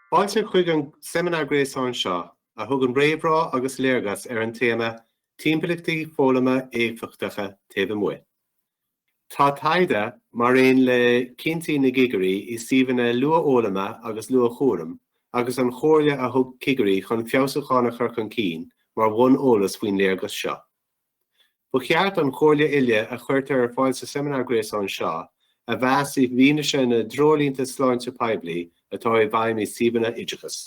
Fáilte chuig an seimineár gréasáin seo, a thugann réamhrá agus léargas ar an téama Timpeallachtaí Foghlama Éifeachtacha Taobh Amuigh Tá taighde, mar aon le cinntí na gcigirí i suíomhanna luathfhoghlama agus luathchúraim agus an chomhairle a thug cigirí chun feabhsúcháin a chur chun cinn mar bhonn eolais faoin léargas seo. Ba cheart an chomhairle uile a chuirtear ar fáil sa seimineár gréasáin seo a mheas i bhfianaise na dtreoirlínte sláinte poiblí atá i bhfeidhm i suíomhanna oideachais.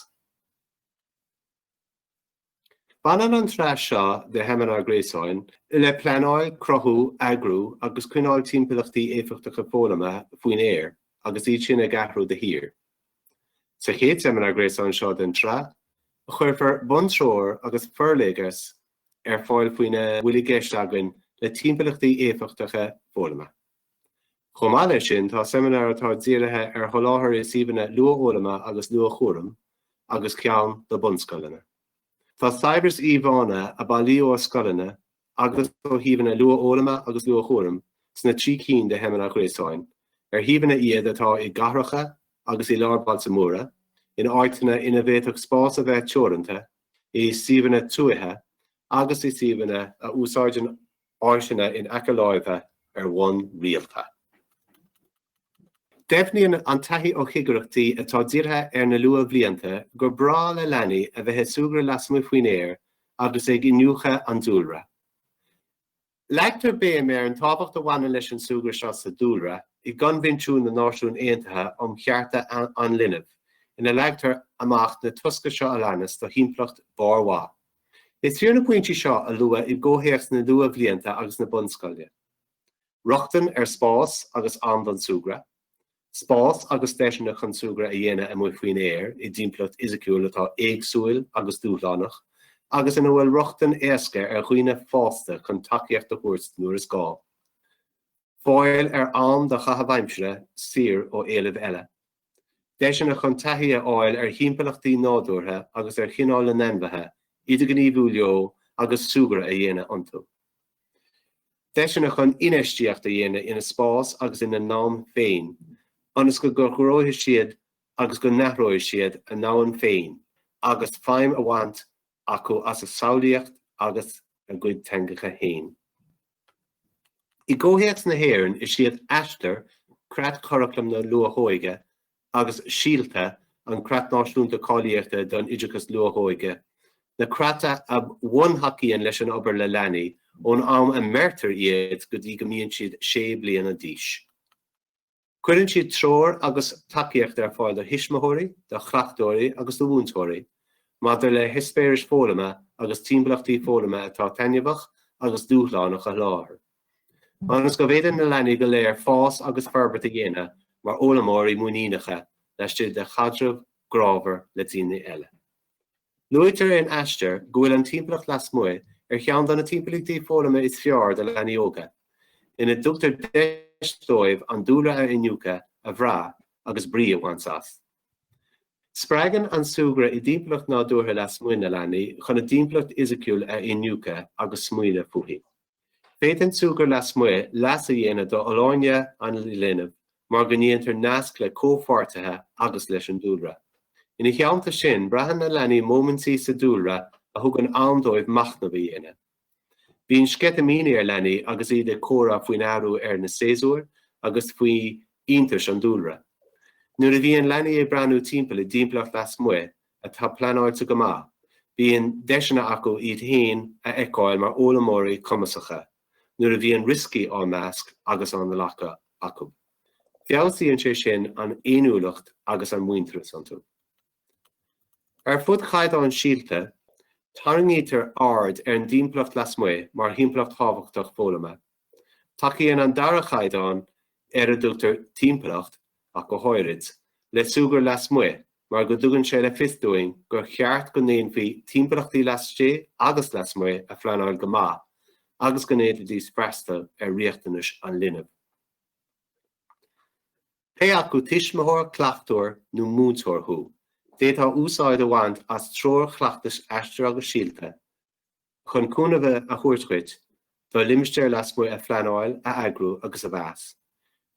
Baineann an tsraith seo de sheimineáir gréasáin le pleanáil, cruthú, eagrú agus coinneáil timpeallachtaí éifeachtacha foghlama faoin aer agus iad sin ag athrú de shíor. Sa chéad seimineár gréasáin seo den tsraith, cuirfear buntreoir agus forléargas ar fáil faoina bhfuil i gceist againn le timpeallachtaí éifeachtacha foghlama. Chomh maith leis sin, tá seimineár atá dírithe ar sholáthar i suíomhanna luathfhoghlama agus luathchúraim agus ceann do bunscoileanna. Tá saibhreas íomhánna a bailíodh ó scoileanna agus ó shuíomhanna luathfhoghlama agus luathchúraim sna trí cinn de sheimineáir ghréasáin, ar shuíomhanna iad atá i gcathracha agus i lár bailte móra, in áiteanna ina bhféadfadh spás a bheith teoranta, i suíomhanna tuaithe agus i suíomhanna a úsáideann áiseanna in aice láimhe ar bhonn rialta. Deimhníonn an taithí ó chigireachtaí atá dírithe ar na luathbhlianta gur breá le leanaí a bheith ag súgradh lasmuigh faoin aer agus ag iniúchadh an dúlra. Leagtar béim ar an tábhacht a bhaineann leis an súgradh seo sa dúlra i gCoinbhinsiún na Náisiún Aontaithe um Chearta an Linbh ina leagtar amach na tosca seo a leanas do thimpeallacht barrmhaith Is fíor na pointí seo a lua i gcomhthéacs na luathbhlianta agus na bunscoile. Rochtain ar spás agus am don súgradh, Spás agus deiseanna chun súgradh a dhéanamh amuigh faoin aer i dtimpeallacht fhisiciúil atá éagsúil agus dúshlánach agus ina bhfuil rochtain éasca ar dhaoine fásta chun tacaíocht a thabhairt nuair is gá. Fáil ar am do chaitheamh aimsire saor ó éilimh eile. Deiseanna chun taithí a fháil ar thimpeallachtaí nádúrtha agus ar chineál na n-ainmhithe, idirghníomhú leo agus súgradh a dhéanamh iontu. Deiseanna chun infheistíocht a dhéanamh ina spás agus ina n-am féin ionas go gcruthóidh siad agus go n-athróidh siad a ndomhan féin agus feidhm a bhaint acu as a samhlaíocht agus a gcuid teangacha féin. I gcomhthéacs na hÉireann, is iad Aistear, Creatchuraclam na Luathóige, agus Síolta, an Creat Náisiúnta Cáilíochta don Oideachas Luathóige, na creata a bhuntacaíonn leis an obair le leanaí ón am a mbeirtear iad go dtí go mbíonn siad sé bliana d'aois. Cuireann siad treoir agus tacaíocht ar fáil do thuismitheoirí, do chleachtóirí agus do mhúinteoirí maidir le heispéiris foghlama agus timpeallachtaí foghlama atá taitneamhach agus dúshlánach a sholáthar, ionas go bhféadann na leanaí go léir fás agus forbairt a dhéanamh mar fhoghlaimeoirí muiníneacha laistigh de chaidreamh grámhar le daoine eile. Luaitear in Aistear go bhfuil an timpeallacht lasmuigh ar cheann de na timpeallachtaí foghlama is fearr do leanaí óga, ina dtugtar deis dóibh an dúlra a iniúchadh, a bhrath agus brí a bhaint as. Spreagann an súgradh i dtimpeallacht nádúrtha lasmuigh na leanaí chun a dtimpeallacht fhisiciúil a iniúchadh agus smaoineamh fúithi. Féadann súgradh lasmuigh leas a dhéanamh d'fholláine an linbh mar go ndéantar naisc le comhpháirtithe agus leis an dúlra. Ina theannta sin, braitheann na leanaí móimintí sa dúlra a thugann am dóibh machnamh a dhéanamh. Bíonn sceitimíní ar leanaí agus iad ag comhrá faoin athrú ar na séasúir agus faoi iontais an dúlra. Nuair a bhíonn leanaí ag breathnú timpeall i dtimpeallacht lasmuigh, atá pleanáilte go maith, bíonn deiseanna acu iad féin a fheiceáil mar fhoghlaimeoirí cumasacha nuair a bhíonn rioscaí á meas agus á nglacadh acu. Feabhsaíonn sé sin an fhéiniúlacht agus an muintearas iontu. Ar fud Chaighdeán Síolta, tarraingítear aird ar an dtimpeallacht lasmuigh mar thimpeallacht thábhachtach foghlama. Tacaíonn an dara caighdeán, ar a dtugtar 'Timpeallacht', ach go háirid, le súgradh lasmuigh mar go dtugann sé le fios dúinn gur cheart go ndéanfaí timpeallachtaí laistigh agus lasmuigh a phleanáil go maith agus go ndéanfaidís freastal ar riachtanais an linbh. Pé acu tuismitheoir, cleachtóir nó múinteoir thú, d'fhéadfá úsáid a bhaint as treoir chleachtais Aistear agus Síolta, chun cúnamh a thabhairt dhuit do limistéir lasmuigh a phleanáil, a eagrú agus a mheas.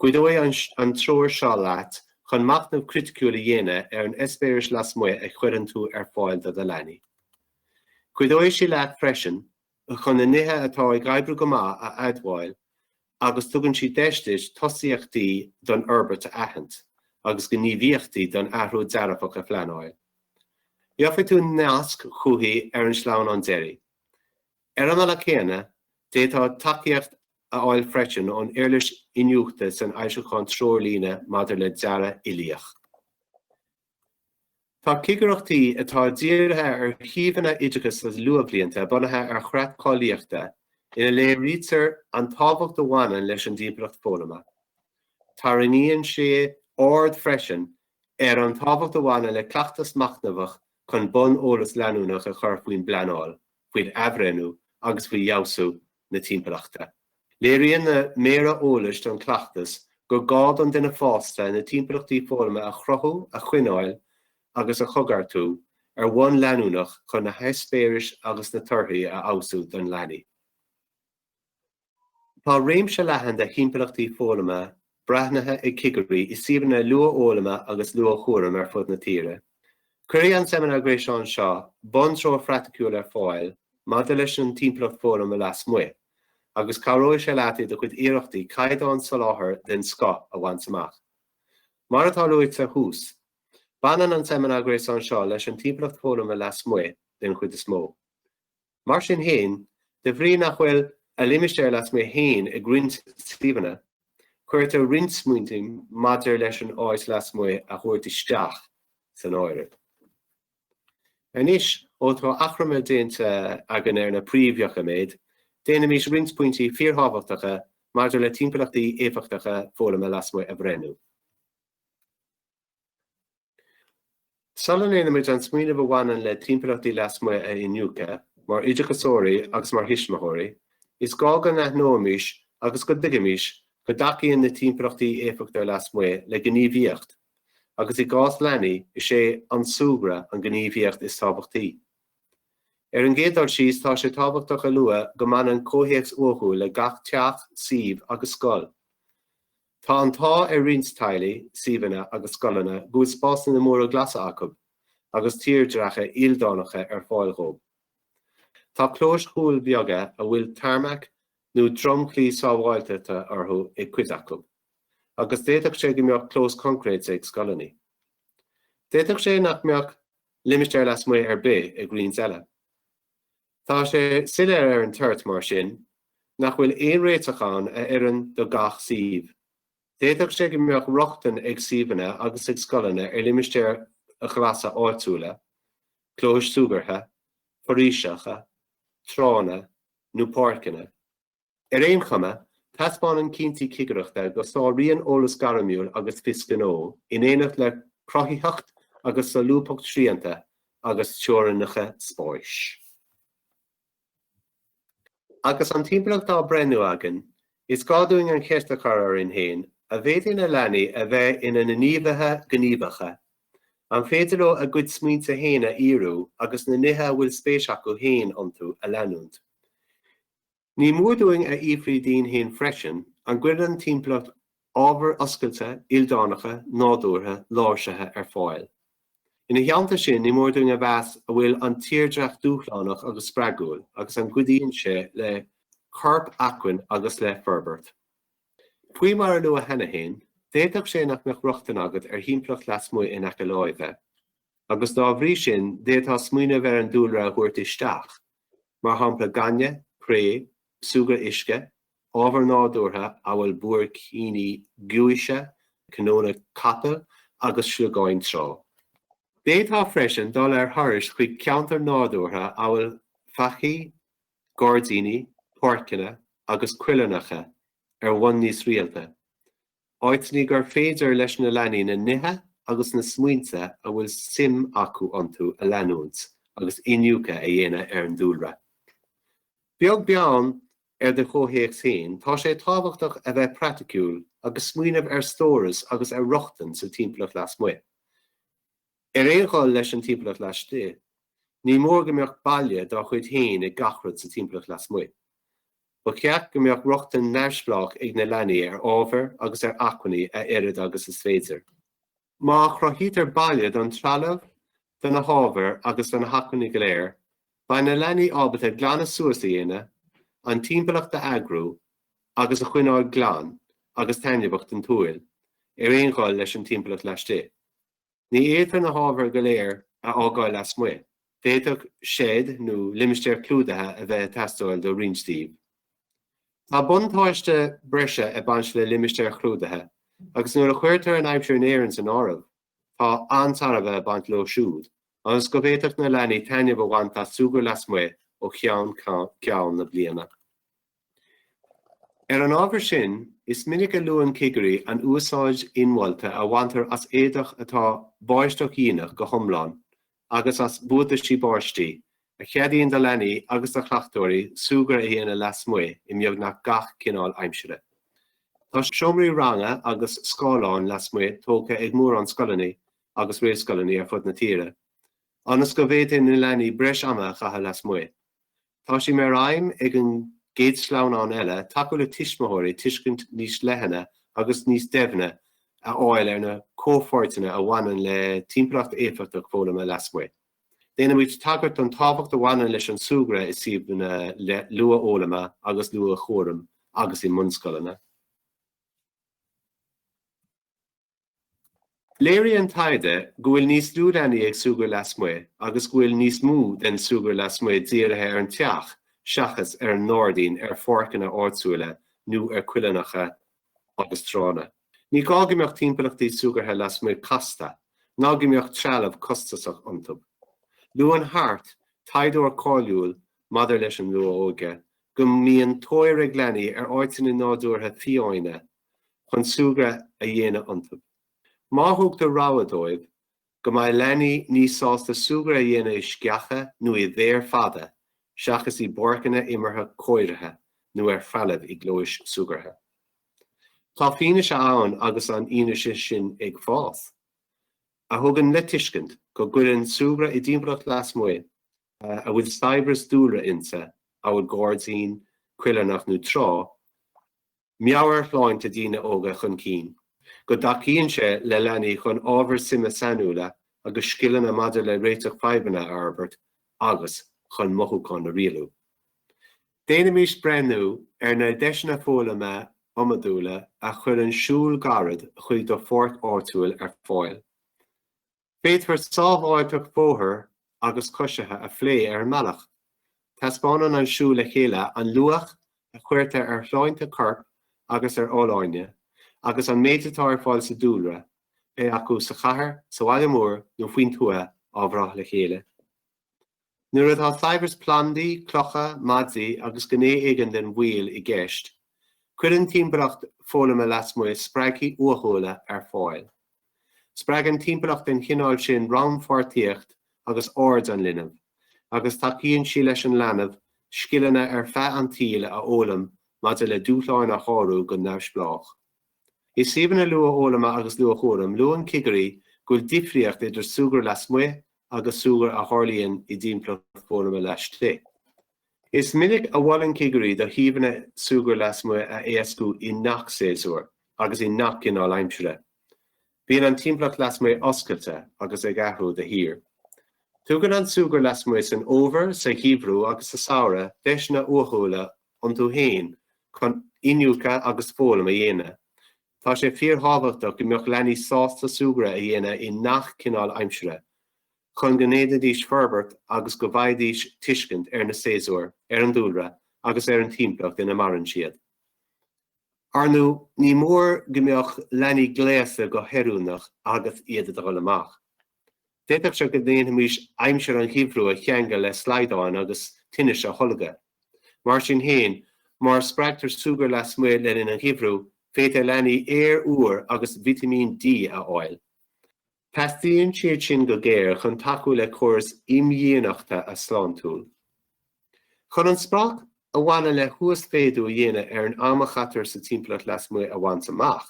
Cuideoidh an treoir seo leat chun machnamh criticiúil a dhéanamh ar an eispéireas lasmuigh a chuireann tú ar fáil do do leanaí. Cuideoidh sí leat freisin chun na nithe atá ag oibriú go maith a admháil agus tugann sí deis duit tosaíochtaí don fhorbairt a aithint agus gníomhaíochtaí don athrú dearfach a phleanáil. Gheofaidh tú nasc chuici ar an sleamhnán deiridh. Ar an mbealach céanna, d'fhéadfá tacaíocht a fháil freisin ón uirlis iniúchta san fhoilseachán Treoirlíne maidir le Dearadh Uilíoch. Tá cigireachtaí atá dírithe ar shuíomhanna oideachais agus luathbhlianta bunaithe ar chreat cáilíochta ina léirítear an tábhacht a bhaineann leis an dtimpeallacht foghlama. Tarraingíonn sé aird freisin ar an tábhacht a bhaineann le cleachtas machnamhach chun bonn eolas leanúnach a chur faoin bpleanáil faoin athbhreithniú agus faoi fheabhsú na timpeallachta. Léiríonn na méara eolais don chleachtas gur gá don duine fásta na timpeallachtaí foghlama a chruthú, a choinneáil agus a choigeartú ar bhonn leanúnach chun na heispéiris agus na torthaí a fheabhsú do leanaí. Tá réimse leathan de thimpeallachtaí foghlama breathnaithe ag cigirí i suíomhanna luathfhoghlama agus luathchúraim ar fud na tíre. Cuirfidh an seimineár gréasáin seo buntreoir phraiticiúil ar fáil maidir leis an timpeallacht foghlama lasmuigh, agus cabhróidh sé leat i do chuid iarrachtaí caighdeán soláthair den scoth a bhaint amach. Mar atá luaite thuas, baineann an seimineár gréasáin seo leis an timpeallacht foghlama lasmuigh, den chuid is mó. Mar sin féin, de bhrí nach bhfuil a limistéar lasmuigh féin ag roinnt suíomhanna, cuirtear roinnt smaointe maidir leis an áit lasmuigh a thabhairt isteach san áireamh. Anois, ó tá achoimre déanta againn ar na príomhdhoiciméid, déanaimis roinnt pointí fíorthábhachtacha maidir le timpeallachtaí éifeachtacha foghlama lasmuigh a bhreithniú. Sula ndéanaimid an smaoineamh a bhaineann le timpeallachtaí lasmuigh a iniúchadh, mar oideachasóirí agus mar thuismitheoirí, is gá go n-aithneoimis agus go dtuigfimis go dtacaíonn na timpeallachtaí éifeachtacha lasmuigh le gníomhaíocht, agus i gcás leanaí, is é an súgradh an ghníomhaíocht is tábhachtaí. Ar an gcéad dul síos, tá sé tábhachtach a lua go mbaineann comhthéacs uathúil le gach teach, suíomh agus scoil. Tá an t-ádh ar roinnt teaghlaigh, suíomhanna agus scoileanna go bhfuil spásanna móra glasa acu agus tírdhreacha ildánacha ar fáil dhóibh. Tá clóis chúil bheaga a bhfuil tarmac nó dromchlaí sábháilteachta orthu ag cuid acu, agus d'fhéadfadh sé go mbeadh clós concréite ag scoileanna. D'fhéadfadh sé nach mbeadh limistéar lasmuigh ar bith ag roinnt eile. Tá sé soiléir ar an toirt, mar sin, nach bhfuil aon réiteach ann a oireann do gach suíomh. D'fhéadfadh sé go mbeadh rochtain ag suíomhanna agus ag scoileanna ar limistéir ghlasa áitiúla, clóis súgartha, foraoiseacha, tránna nó páirceanna, Ar aon chuma, taispeánann cinntí cigireachta go sáraíonn eolas gairmiúil agus fios gnó, in éineacht le cruthaitheacht agus solúbthacht srianta agus teorainneacha spáis. Agus an timpeallacht á breithniú againn, is gá dúinn an cheist a chur orainn féin, an bhféadann na leanaí a bheith ina ngníomhaithe gníomhacha, an féidir leo a gcuid smaointe féin a fhíorú agus na nithe a bhfuil spéis acu féin iontu a leanúint? Ní mór dúinn a fhiafraí dínn féin freisin, an gcuireann an timpeallacht ábhair oscailte, ildánacha, nádúrtha, láimhsithe ar fáil? Ina theannta sin, ní mór dúinn a mheas an bhfuil an tírdhreach dúshlánach agus spreagúil agus an gcuidíonn sé le corpacmhainn agus le forbairt. Faoi mar a luadh cheana féin, d'fhéadfadh sé nach mbeadh rochtain agat ar thimpeallacht lasmuigh in aice láimhe, agus dá bhrí sin d'fhéadfá smaoineamh ar an dúlra a thabhairt isteach mar shampla gaineamh, cré, súgradh uisce, ábhair nádúrtha amhail buaircíní giúise, cnónna capaill agus sliogáin trá. D'fhéadfá freisin dul ar thurais chuig ceantair nádúrtha amhail faichí, gairdíní, páirceanna agus coillearnacha ar bhonn níos rialta, Áiteanna gur féidir leis na leanaí na nithe agus na smaointe a bhfuil suim acu iontu a leanúint agus iniúchadh a dhéanamh ar an dúlra. Beag beann ar do chomhthéacs féin, tá sé tábhachtach a bheith praiticiúil agus smaoineamh ar stóras agus ar rochtain sa timpeallacht lasmuigh. Ar aon dhul leis an timpeallacht laistigh, ní mór go mbeadh baile dá chuid féin ag gach rud sa timpeallacht lasmuigh. Ba cheart go mbeadh rochtain neamhspleách ag na leanaí ar ábhar agus ar acmhainní a oiread agus is féidir. Má chruthaítear baile don trealamh, do na hábhair agus do na hacmhainní go léir, beidh na leanaí ábalta glanadh suas a dhéanamh, an timpeallacht a eagrú agus a choinneáil glan agus taitneamhach don tsúil, ar aon dhul leis an timpeallacht laistigh. Ní fhéadfar na hábhair go léir a fhágáil lasmuigh. D'fhéadfadh seit nó limistéar clúdaithe a bheith ag teastáil do roinnt díobh. Tá buntáiste breise ag baint le limistéir chlúdaithe agus nuair a chuirtear an aimsir in Éirinn san áireamh, tá an-tairbhe ag baint leo siúd agus go bhféadfadh na leanaí taitneamh a bhaint as súgradh lasmuigh ó cheann ceann na bliana. Ar an ábhar sin, is minic a luann cigirí an úsáid inmholta a bhaintear as éadach atá báisteachdhíonach go hiomlán agus as buataisí báistí, a cheadaíonn do leanaí agus do chleachtóirí súgradh a dhéanamh lasmuigh i mbeagnach gach cineál aimsire. Tá seomraí ranga agus scáileáin lasmuigh tógtha ag mórán scoileanna agus réamhscoileanna ar fud na tíre, ionas go bhféadfaidh na leanaí breis ama a chaitheamh lasmuigh. Tá sé mar aidhm ag an gcéad sleamhnán eile tacú le tuismitheoirí tuiscint níos leithne agus níos doimhne a fháil ar na comhpháirteanna a bhaineann le timpeallacht éifeachtach foghlama lasmuigh. Déanaimid tagairt don tábhacht a bhaineann leis an súgradh i suíomhanna luathfhoghlama agus luathchúraim agus i mbunscoileanna. Léirigh an taighde go bhfuil níos lú leanaí ag súgradh lasmuigh agus go bhfuil níos mó den súgradh lasmuigh dírithe ar an teach seachas ar an ngairdín, ar pháirceanna áitiúla nó ar choillearnacha agus tránna. Ní gá go mbeadh timpeallachtaí súgartha lasmuigh casta, ná go mbeadh trealamh costasach iontu. Luann Hart, taighdeoir cáiliúil maidir leis an luath-óige, go mbíonn tóir ag leanaí ar áiteanna nádúrtha fiáine chun súgradh a dhéanamh iontu. Má thugtar rogha dóibh go mbeidh leanaí níos sásta súgradh a dhéanamh i sceacha nó i bhféar fada seachas i bpáirceanna imeartha cóirithe nó ar threalamh i gclóis súgartha. Tá fianaise ann agus an fhianaise sin ag fás, a thugann le tuiscint go gcuireann súgradh i dtimpeallacht lasmuigh a bhfuil saibhreas dúlra inti, amhail gairdín, coillearnach nó trá, meabhairshláinte daoine óga chun cinn, go dtacaíonn sé le leanaí chun ábhair suime sainiúla agus scileanna maidir le réiteach fadhbanna a fhorbairt agus chun mothúcháin a rialú. Déanaimís breithniú ar na deiseanna foghlama iomadúla a chuireann siúl gairid chuig do pháirc áitiúil ar fáil. Féadfar sábháilteacht bóthair agus coisithe a phlé ar an mbealach. Taispeánann an siúl le chéile an luach a chuirtear ar shláinte coirp agus ar fholláine agus an méid atá ar fáil sa dúlra, pé acu sa chathair, sa bhaile mór nó faoin tuath, á bhrath le chéile. Nuair atá saibhreas plandaí, clocha, maidí agus gné éigin den bhaol i gceist, cuireann timpeallacht foghlama lasmuigh spreagthaí uathúla ar fáil. Spreagann timpeallacht den chineál sin rannpháirtíocht agus aird an linbh, agus tacaíonn sí leis an leanbh scileanna ar feadh an tsaoil a fhoghlaim maidir le dúshláin a shárú go neamhspleách. I suíomhanna luathfhoghlama agus luathchúraim, luann cigirí go bhfuil difríocht idir súgradh lasmuigh agus súgradh a tharlaíonn i dtimpeallacht foghlama laistigh. Is minic a mholann cigirí do shuíomhanna súgradh lasmuigh a éascú i ngach séasúr agus i ngach cineál aimsire. Bíonn an timpeallacht lasmuigh oscailte agus ag athrú de shíor. Tugann an súgradh lasmuigh san fhómhar, sa gheimhreadh agus sa samhradh deiseanna uathúla iontu féin chun iniúchadh agus foghlaim a dhéanamh. Tá sé fíorthábhachtach go mbeadh leanaí sásta súgradh a dhéanamh i ngach cineál aimsire, chun go ndéanfaidís forbairt agus go bhfaighidís tuiscint ar na séasúir, ar an dúlra agus ar an timpeallacht ina maireann siad. Ar ndóigh, ní mór go mbeadh leanaí gléasta go hoiriúnach agus iad ag dul amach. D'fhéadfadh sé go ndéanfaimis aimsir an gheimhridh a cheangal le slaghdáin agus tinnis a tholgadh. Mar sin féin, má spreagtar súgradh lasmuigh le linn an gheimhridh, féadfaidh leanaí aer úr agus vitimín D a fháil. Teastaíonn siad sin go géar chun tacú le córas imdhíonachta sláintiúil. Chun an sprioc a bhaineann le huasmhéadú a dhéanamh ar an am a chaitear sa timpeallacht lasmuigh a bhaint amach,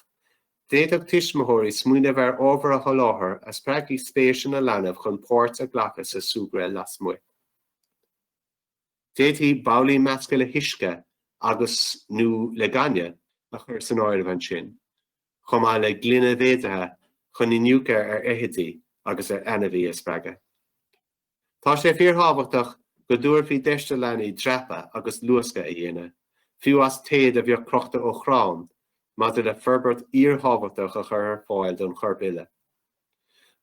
d'fhéadfadh tuismitheoirí smaoineamh ar ábhar a sholáthar a spreagfadh spéis an linbh chun páirt a ghlacadh sa súgradh lasmuigh. D'fhéadfaí babhlaí measctha le huisce agus, nó le gaineamh a chur san áireamh ansin. chomh maith le gloine mhéadaithe chun iniúchadh ar fheithidí agus ar ainmhithe a spreagadh. Tá sé fíorthábhachtach go dtabharfaí deis do leanaí dreapadh agus luascadh a dhéanamh, fiú as téad a bheadh crochta ó chrann, maidir le forbairt fhíorthábhachtach a chur ar fáil don chorp uile.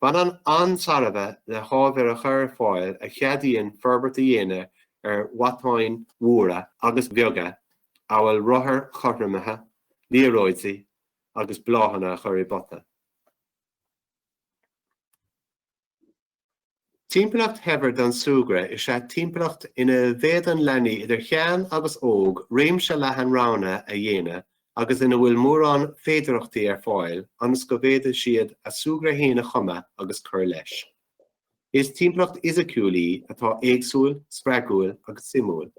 Baineann an-tairbhe le hábhar a chur ar fáil a cheadaíonn forbairt a dhéanamh ar mhatáin mhóra agus bheaga amhail rothair chothromaithe, liathróidí agus bláthanna a chur i bpota. Timpeallacht shaibhir don súgradh is ea timpeallacht ina bhféadann leanaí idir shean agus óg réimse leathan roghanna a dhéanamh agus ina bhfuil mórán féidearthachtaí ar fáil ionas go bhféadfaidh siad a súgradh féin a chumadh agus cur leis. Is timpeallacht fhisiciúil í atá éagsúil, spreagúil agus suimiúil,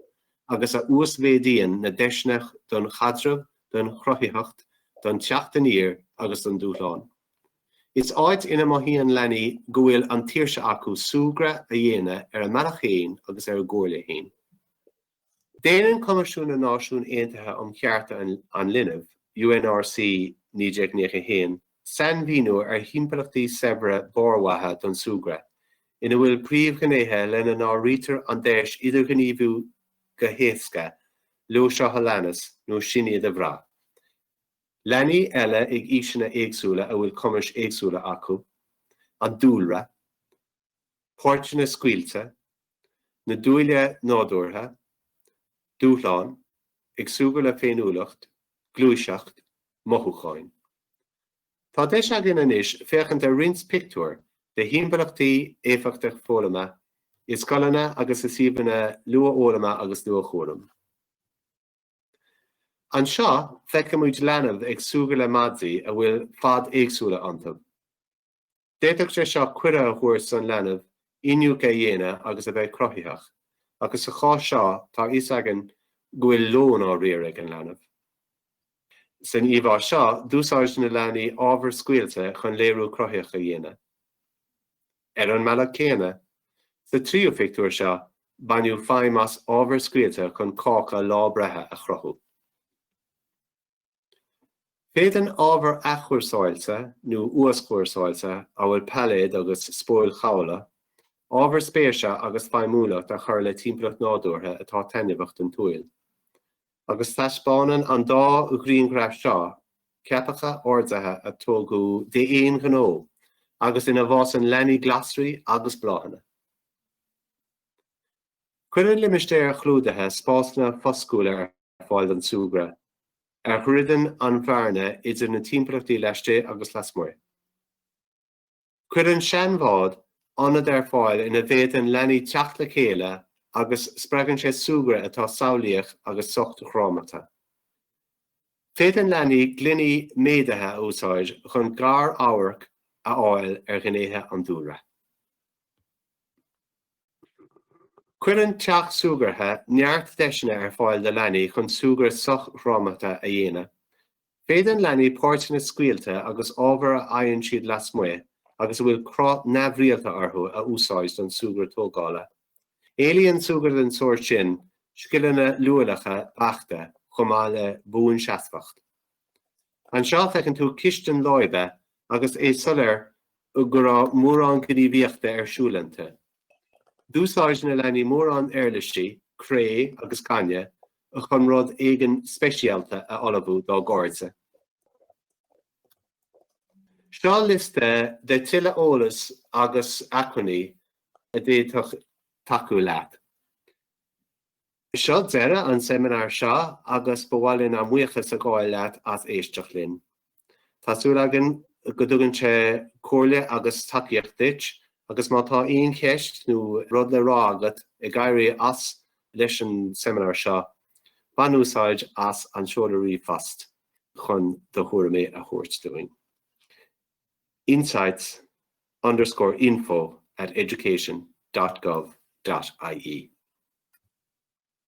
agus a uasmhéadaíonn na deiseanna don chaidreamh, don chruthaitheacht, don teacht aniar agus don dúshlán. Is áit ina mothaíonn leanaí go bhfuil an tsaoirse acu súgradh a dhéanamh ar a mbealach féin agus ar a gcomhairle féin. Déanann Coimisiún na Náisiún Aontaithe um Chearta an Linbh, UNRC, 1991, sainmhíniú ar thimpeallachtaí saibhre barrmhaithe don súgradh, ina bhfuil príomhghnéithe lena n-áirítear an deis idirghníomhú go héasca leo seo a leanas nó sin iad a bhrath, Leanaí eile ag aoiseanna éagsúla a bhfuil cumais éagsúla acu, an dúlra, páirteanna scaoilte, na dúile nádúrtha, dúshláin, ag súgradh le féiniúlacht, gluaiseacht, mothúcháin. Tá deis againn anois féachaint ar roinnt pictiúr de thimpeallachtaí éifeachtacha foghlama i scoileanna agus i suíomhanna luathfhoghlama agus luathchúraim. Anseo, feicimid leanbh ag súgradh le maidí a bhfuil faid éagsúla iontu. D'fhéadfadh sé seo cuireadh a thabhairt don leanbh iniúchadh a dhéanamh agus a bheith cruthaitheach, agus sa chás seo tá a fhios againn go bhfuil lón á riar ag an leanbh. San íomhá seo, d'úsáid na leanaí ábhar scaoilte chun léiriú cruthaitheach a dhéanamh. Ar an mbealach céanna, sa tríú pictiúr seo, baineadh feidhm as ábhar scaoilte chun cáca lá breithe a chruthú. Féadann ábhar athchúrsáilte nó uaschúrsáilte, amhail pailléid agus spóil chábla, ábhar spéise agus feidhmiúlacht a chur le timpeallacht nádúrtha atá taitneamhach don tsúil. agus taispeánann an dá ghrianghraf seo ceapacha ardaithe a tógadh d'aon ghnó agus ina bhfásann leanaí glasraí agus bláthanna. Cuireann limistéir chlúdaithe spásanna foscúla ar fáil don súgradh a dhruideann an bhearna idir na timpeallachtaí laistigh agus lasmuigh. Cuireann seanbhád ionad ar fáil ina bhféadann leanaí teacht le chéile agus spreagann sé súgradh atá samhlaíoch agus sochdhrámata. Féadann leanaí gloiní méadaithe a úsáid chun gar-amharc a fháil ar ghnéithe an dúlra. Cuireann teach súgartha neart deiseanna ar fáil do leanaí chun súgradh sochdhrámata a dhéanamh, Féadann leanaí páirteanna scaoilte agus ábhar a fhaigheann siad lasmuigh agus a bhfuil cruth neamhrialta orthu a úsáid don súgradh tógála. Éilíonn súgradh den sórt sin scileanna luaileacha beachta chomh maith le buanseasmhacht. Anseo feiceann tú cistin láibe agus is soiléir go raibh mórán gníomhaíochta ar siúl inti. D'úsáid na leanaí mórán uirlisí, cré agus gaineamh, chun rud éigin speisialta a ullmhú dá gcairde. Seo liosta de tuilleadh eolas agus acmhainní a d'fhéadfadh tacú leat. Seo deireadh an seimineáir seo agus ba mhaith linn ár mbuíochas a ghabháil leat as éisteacht linn. Tá súil againn go dtugann sé comhairle agus tacaíocht duit agus má tá aon cheist nó rud le rá agat ag éirí as leis an seimineár seo, bain úsáid as an seoladh ríomhphost chun do thuairimí a thabhairt dúinn. insights underscore info at education.gov.ie